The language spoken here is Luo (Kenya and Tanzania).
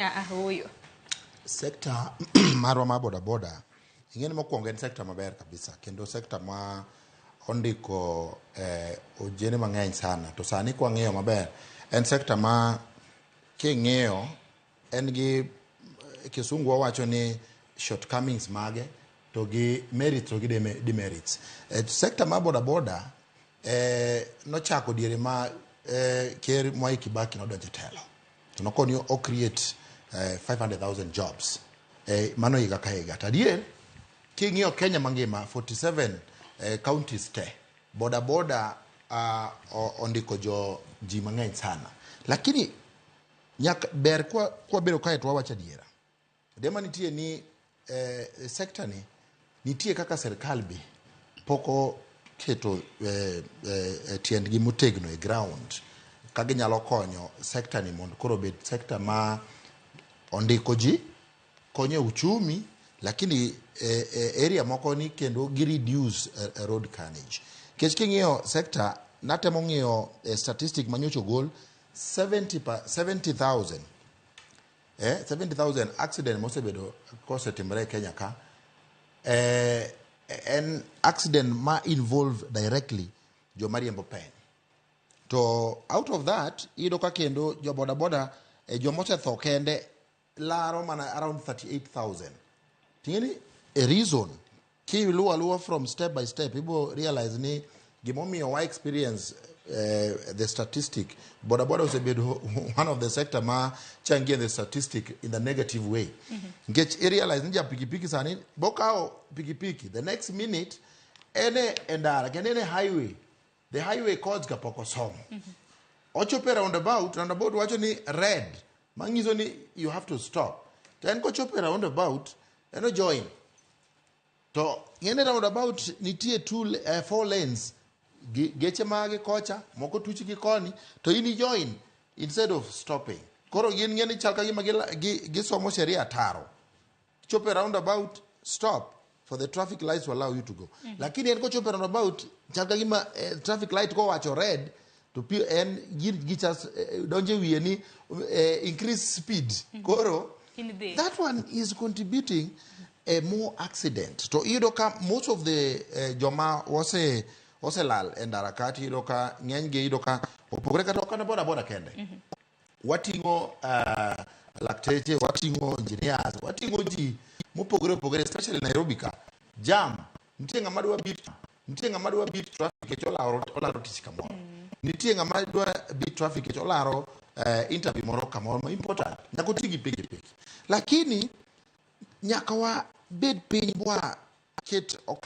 Ah, ah, ooyo. sekta marwa mar bodaboda ing'eni mokwongo en sekta maber kabisa kendo sekta ma ondiko eh, ojene mang'eny sana to sani kwang'iyo maber en sekta ma king'iyo en gi eh, kisungu wawacho ni shortcomings mage to gi merits to gi deme- demerits eh, sekta mar bodaboda eh, nochako diere ma eh, ker mwai kibaki nodonje telo Noko ni o create eh, 500,000 jobs eh, mano higa ka higa. To adier king'iyo Kenya mangima 47 eh, counties te boda boda ah, o- ondiko jo ji mang'eny sana, lakini nyaka ber kwa, kwa bedo kae to wawacho adiera Dema nitie ni eh, sekta ni nitie kaka serikal be pok oketo eh, eh, eh, tiendgi motegno e ground ka ginyalo konyo sekta ni mondo koro obed sekta ma ondiko ji konyo e uchumi lakini eh, eh, area moko ni kendo gi reduce eh, eh, road carnage kech king'iyo sekta natemo ng'iyo eh, statistic manyocha ogol 70 pa- 70000 eh, 70,000 accident mosebedo kosetimore e Kenya ka eh, en accident ma involve directly joma riembo peng to out of that iyudo ka kendo jo bodaboda eh, joma osetho kende laro mana around 38000 ting'eni a reason Ki luwo aluwa from step by step, ibo realize ni gimomiyo wa experience eh, the statistic boda boda osebedo one of the sector ma changie the statistic in the negative way nikech mm -hmm. irealize ni ja pikipiki sani bokawo pikipiki the next minute ene e ndara kendo ene highway the highway codes ka pok osomo ochopo e roundabout roundabout wacho ni red manyiso ni you have to stop to en kochopo e roundabout en ojoin to ng'ene roundabout nitie two, le- eh, four lanes Gi- geche magi kocha moko tuch gi koni to in ijoin instead of stopping koro gin ng'eni chal ka gima gila- gi- gisomo sheria taro chopo e roundabout stop for the traffic lights to allow you to go mm -hmm. lakini en kochopo e roundabout chal ka gima eh, traffic light kowacho red to pi en gin gichas eh, donje wiye ni eh, increase speed mm -hmm. koro that one is contributing a more accident to iyudo ka most of the uh, joma wase oselal e ndara kati iyudo ka ng'enygi iyudo ka opogore kata okana boda boda kende mm -hmm. wating'o uh, lakteche wating'o engineers wating'o ji mopogore opogore especially nairobi ka jam nitie ng'ama dwa beat nitie ng'ama dwa beat traffic kech olaro olaro tich kamoro nitie ng'ama dwa beat traffic kech olaro uh, interview moro kamoro ma important nyaka oti gi pikipiki lakini nyaka wabed piny bwa ket okang'